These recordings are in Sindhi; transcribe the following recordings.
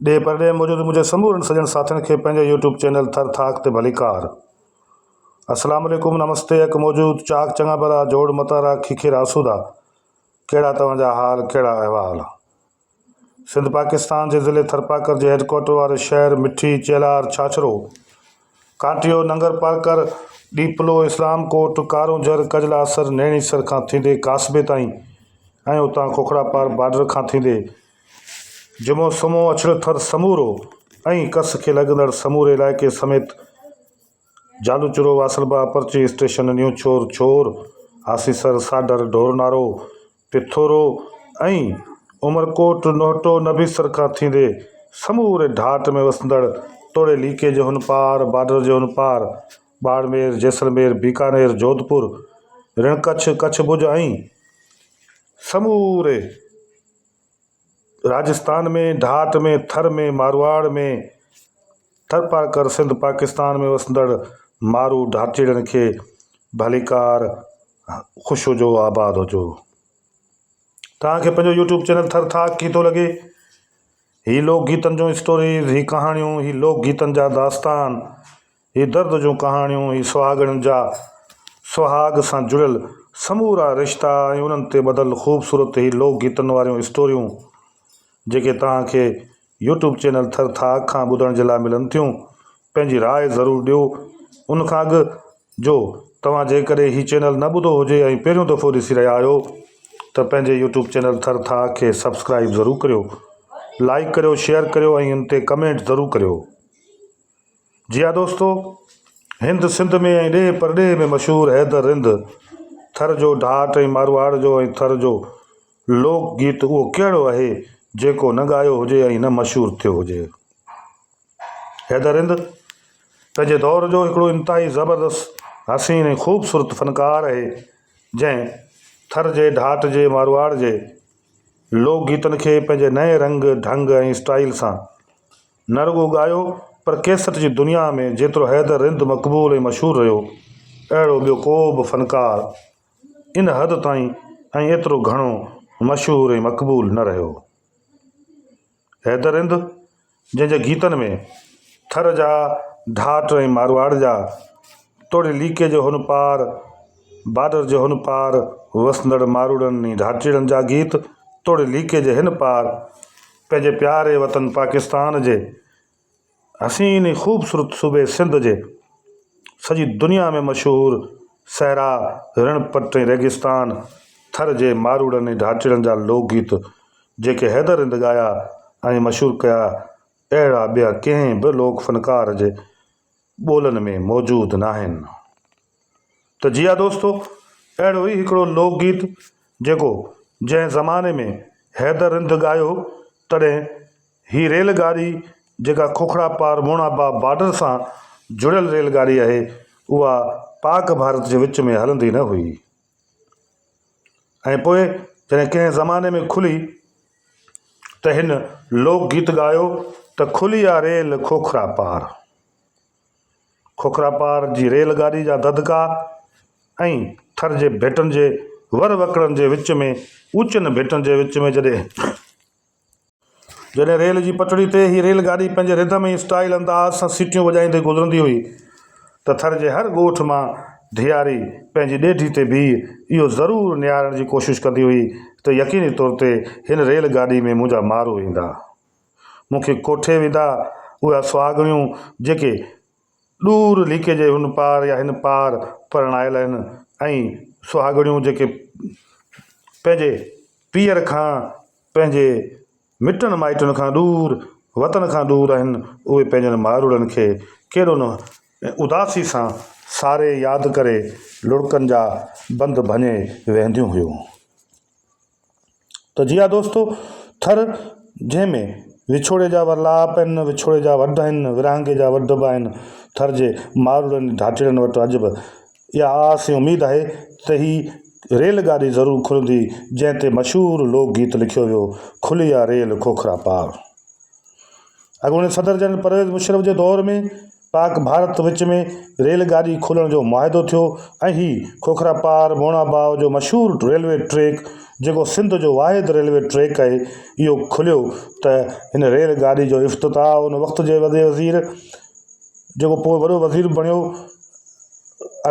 ڏيهه پرڏيهه موجود منهنجي سمورن سڄڻ ساٿين کي پنهنجي يوٽيوب چينل ٿر ٿاڪ تي ڀليڪار. اسلام عليڪم نمستي اک موجود چاڪ چڱا ڀلا جوڙ متارا کيکير آسودا ڪهڙا توهان جا حال ڪهڙا احوال سنڌ پاڪستان جي ضلعي ٿرپاڪر جي هيڊڪوارٽر واري شهر مٺي چيلار ڇاڇرو ڪانٽيو ننگرپارڪر ڏيپلو اسلام ڪوٽ ڪارونجهر ڪجلاسر نيڻيسر کان ٿيندي ڪاسبي تائين ۽ اتان کوکڙا پار بارڊر کان ٿيندي جمعو سمو اڇڙو ٿر سمورو ۽ ڪس کي لڳندڙ سموري علائقي سميت جالوچرو، واصل باغ، پرچي اسٽيشن، نيون ڇور، ڇور، آسيسر، ساڍر، ڍورنارو، پٿورو ۽ عمرڪوٽ، نوهٽو، نبيسر کان ٿيندي سموري ڍاٽ ۾ وسندڙ توڙي ليڪي جي هن پار، بارڊر جي هن پار، ٻاڙمير، جيسلمير، بيڪانير، جوڌپور، رڻڪڇ، ڪڇ ڀڄ ۽ سموري. راجستان ۾ ڍاٽ ۾ ٿر ۾ مارواڙ ۾ ٿرپارڪر سنڌ پاڪستان ۾ وسندڙ مارو ڍاٽجيڙن کي ڀليڪار خوش هجو آباد هجو توهان کي پنهنجو يوٽيوب چينل ٿر ٿاڪ ڪي ٿو لڳي هي لوڪ گيتن جو اسٽوريز هي ڪهاڻيون هي لوڪ گيتن جا داستان هي درد جون ڪهاڻيون ئي سهاڳڻين جا سهاڳ سان جڙيل سمورا رشتا ۽ انهن تي ٻڌل خوبصورت هي لوڪ گيتن واريون اسٽوريون جيڪي توهان کي يوٽيوب چينل ٿر ٿاڪ کان ٻڌڻ جي لاء ملن ٿيون پنهنجي راء ضرور ڏيو ان کان اڳ جو توهان جيڪڏهن هي چينل نه ٻڌو هجي ۽ پهريون دفعو ڏسي رهيا آهيو ته پنهنجي يوٽيوب چينل ٿر ٿاڪ کي سبسڪرائب ضرور ڪريو لائيڪ ڪريو شيئر ڪريو ۽ ان تي ڪمينٽ ضرور ڪريو. جي ها دوستو! هند سنڌ ۾ ۽ ڏيهه پرڏيهه ۾ مشهور حيدر رند ٿر جو ڍاٽ ۽ مارواڙ جو ۽ ٿر جو لوڪ گيت اهو ڪهڙو اهي جيڪو نه ڳايو هجي ۽ نه مشهور ٿيو هجي. حيدر رند پنهنجي دور جو هڪڙو انتهائي زبردست، حسين ۽ خوبصورت فنڪار اهي جنهن ٿر جي ڍاٽ جي مارواڙ جي لوڪ گيتن کي پنهنجي نئين رنگ، ڍنگ ۽ اسٽائيل سان. نه رڳو ڳايو پر ڪيسٽ جي دنيا ۾ جيترو حيدر رند مقبول ۽ مشهور رهيو، اهڙو ٻيو ڪو به فنڪار ان حد تائين ۽ ايترو گهڻو مشهور ۽ مقبول نه رهيو. حيدر رند جنهن جي گيتن ۾ ٿر جا ڍاٽ ۽ مارواڙ جا توڙي ليڪي جي هن پار، بارڊر جي هن پار، وسندڙ ماروئڙن ۽ ڍاٽيڙن جا گيت توڙي ليڪي جي هن پار، پنهنجي پياري وطن پاڪستان جي حسين ۽ خوبصورت صوبي سنڌ جي سڄي دنيا ۾ مشهور صحرا، رڻ پٽ ۽ ريگستان ٿر جي ماروئڙن ۽ ڍاٽيڙن جا لوڪ گيت جيڪي حيدر رند ڳايا ۽ مشهور ڪيا اهڙا ٻيا ڪنهن به لوڪ فنڪار جي ٻولن ۾ موجود ناهن. ته جي ها دوستو، اهڙو ئي هڪڙو لوڪ گيت جيڪو جنهن زماني ۾ حيدر رند ڳايو تڏهن هي ريل ڳاڙي جيڪا کوکڙا پار موڻابا بارڊر سان جڙيل ريل ڳاڙي آهي اها پاڪ ڀارت جي وچ ۾ هلندي نه هئي ۽ پوء جڏهن ڪنهن زماني ۾ کلي ته هن لوڪ گيت ڳايو ته کلي آ ريل کوکرا پار. کوکراپار جي ريل گاڏي جا دڌڪا ۽ ٿر جي ڀيٽن جي ور وڪڙن جي وچ ۾ اوچن ڀيٽن جي وچ ۾ جڏهن جڏهن ريل جي پٽڙي تي هي ريل گاڏي پنهنجي رڌم ۽ اسٽائيل انداز سان سيٽيون وڄائيندي گذرندي هئي ته ٿر جي هر ڳوٺ مان ڌيئاري پنهنجي ڏيڍي تي بيهي اهو ضرور نهارڻ جي ڪوشش ڪندي هئي ته يقيني طور تي هن ريل گاڏي ۾ منهنجا مارو ايندا. مون کي ڪوٺي ودا اها سهاڳڻيون جيڪي ڏور ليڪي جي هن پار يا هن پار پرڻايل آهن ۽ سهاڳڻيون جيڪي پنهنجي پيئر کان پنهنجي مٽن مائٽن کان ڏور وطن کان ڏور آهن اهي پنهنجن مائروڙن کي ڪيڏو نه اداسي سان ساري ياد ڪري لڙڪن جا بند ڀڃي ويهنديون هيون. ته جي ها دوستو! ٿر جنهن ۾ وڇوڙي جا ورلاپ آهن، وڇوڙي جا وڍ آهن، ورهاڱي جا وڍ به آهن، ٿر جي ماروڙن ڌاٽيڙن وٽ اڄ به اها آس ۽ اميد آهي ته هي ريل گاڏي ضرور کلندي جنهن تي مشهور لوڪ گيت لکيو ويو، کلي آ ريل کوکرا پار. اڳوڻي صدر جنرل پرويز مشرف جي دور ۾ پاڪ ڀارت وچ ۾ ريل گاڏي کولڻ جو معاهدو ٿيو ۽ هي کوکرا پار مونا باء جو مشهور ريلوي ٽريڪ جيڪو سنڌ جو واحد ريلوي ٽريڪ آهي اهو کليو ته هن ريل گاڏي جو افتتاح ان وقت جي وڏي وزير جيڪو پوء وڏو وزير بڻيو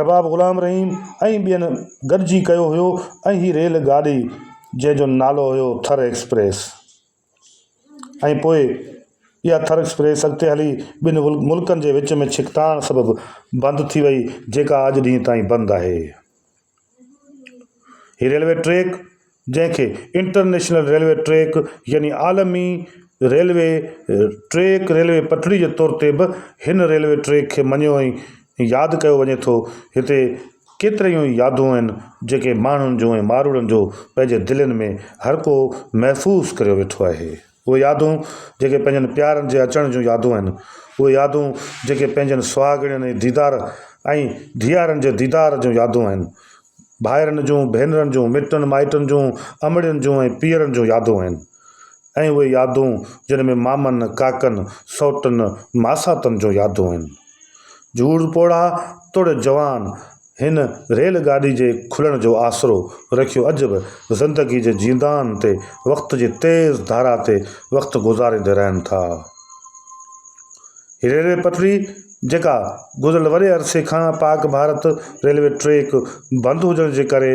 ارباب غلام رحيم ۽ ٻين گڏجي ڪيو هيو ۽ هي ريل گاڏي جنهن جو نالو هيو ٿر ايڪسپريس ۽ پوء اها ٿر ايڪسپريس اڳتي هلي ٻن ملڪن جي وچ ۾ ڇڪتاڻ سبب بند ٿي وئي جيڪا اڄ ڏينهن تائين بند آهي. هي ريلوي ٽريڪ جنهن کي انٽرنيشنل ريلوي ٽريڪ يعني عالمي ريلوي ٽريڪ ريلوي پٽڙي جي طور تي به هن ريلوي ٽريڪ کي مڃيو ۽ ياد ڪيو وڃي ٿو هتي ڪيتريون ئي يادون آهن جيڪي ماڻهن جون ۽ ماروئڙن جو پنهنجي دلين ۾ هر ڪو محفوظ ڪريو ويٺو آهي. اهي يادون جيڪي پنهنجن پيارن جي اچڻ جون يادون آهن. اهي يادون جيڪي پنهنجن سهاڳڻين ۽ ديدار ۽ ڌيئارن جي ديدار جون يادون آهن. ڀائرن جون، ڀينرن جون، مٽن مائٽن جون، امڙين جون ۽ پيئرن جون يادون آهن. ۽ اهي يادون جن ۾ مامن، ڪاڪن، سئوٽن، ماساتن جون يادون آهن. جوڙ پوڙها توڙي جوان هن ريل گاڏي جي کلڻ جو آسرو رکيو اڄ به زندگي جي جيندان تي وقت جي تيز ڌارا تي وقت گذاريندي رهن ٿا. هي ريلوي پٽڙي جيڪا گذريل وڏي عرصي کان پاڪ ڀارت ريلوي ٽريڪ بند هجڻ جي ڪري،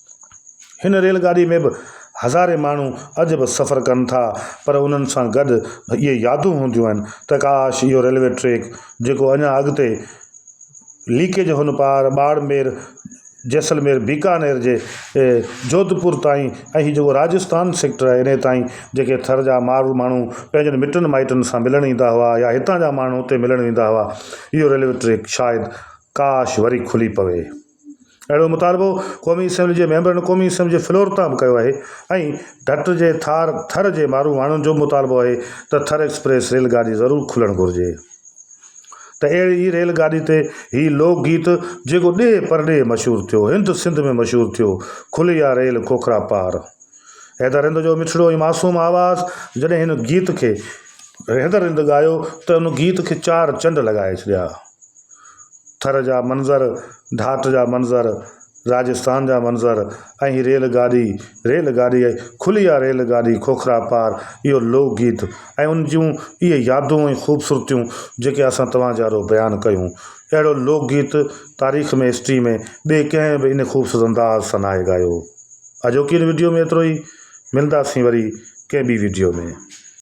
هن ريل گاڏي ۾ به هزارين ماڻهو اڄ به سفر ڪن ٿا پر انهن سان گڏ اهي يادون هونديون آهن ته ڪاش اهو ريلوي ٽريڪ جيڪو اڃا اڳتي ليڪي جي هن پار ٻاڙمير جيسلمير بيڪانير جي جوڌپور تائين ۽ هي جيڪو راجستان سيڪٽر آهي انهي تائين جيڪي ٿر جا مارو ماڻهو پنهنجن مٽن مائٽن سان ملڻ ايندا هئا يا هتان جا ماڻهو اتي ملڻ ويندا هئا اهو ريلوي ٽريڪ شايد ڪاش وري کلي پوي. اهڙو مطالبو قومي اسيمبلي جي ميمبرن قومي اسيمبلي جي فلور تان به ڪيو آهي ۽ ڍٽ جي ٿار ٿر جي مارو ماڻهن جو به مطالبو آهي ته ٿر ايڪسپريس ريل گاڏي ضرور کلڻ گهرجي ته اهڙي ئي ريل گاڏي تي هي لوڪ گيت جيڪو ڏيهه پرڏيهه مشهور ٿيو هند سنڌ ۾ مشهور ٿيو کلي آ ريل کوکرا پار حيدر رند جو مٺڙو ۽ معصوم آواز جڏهن هن گيت کي حيدر رند ڳايو ته ان گيت کي چار چنڊ لڳائي ڇڏيا. ٿر جا منظر، ڍاٽ جا منظر، راجستان جا منظر ۽ هي ريل گاڏي، ريل گاڏي، کلي آ ريل گاڏي کوکرا پار، اهو لوڪ گيت ۽ ان جون اهي يادون ۽ خوبصورتيون جيڪي اسان توهان جي آڏو بيان ڪيون. اهڙو لوڪ گيت تاريخ ۾ History ۾ ٻئي ڪنهن به ايندي خوبصورت انداز سان ناهي ڳايو. اڄوڪي ان وڊيو ۾ ايترو ئي. ملنداسين وري ڪنهن ٻي وڊيو ۾.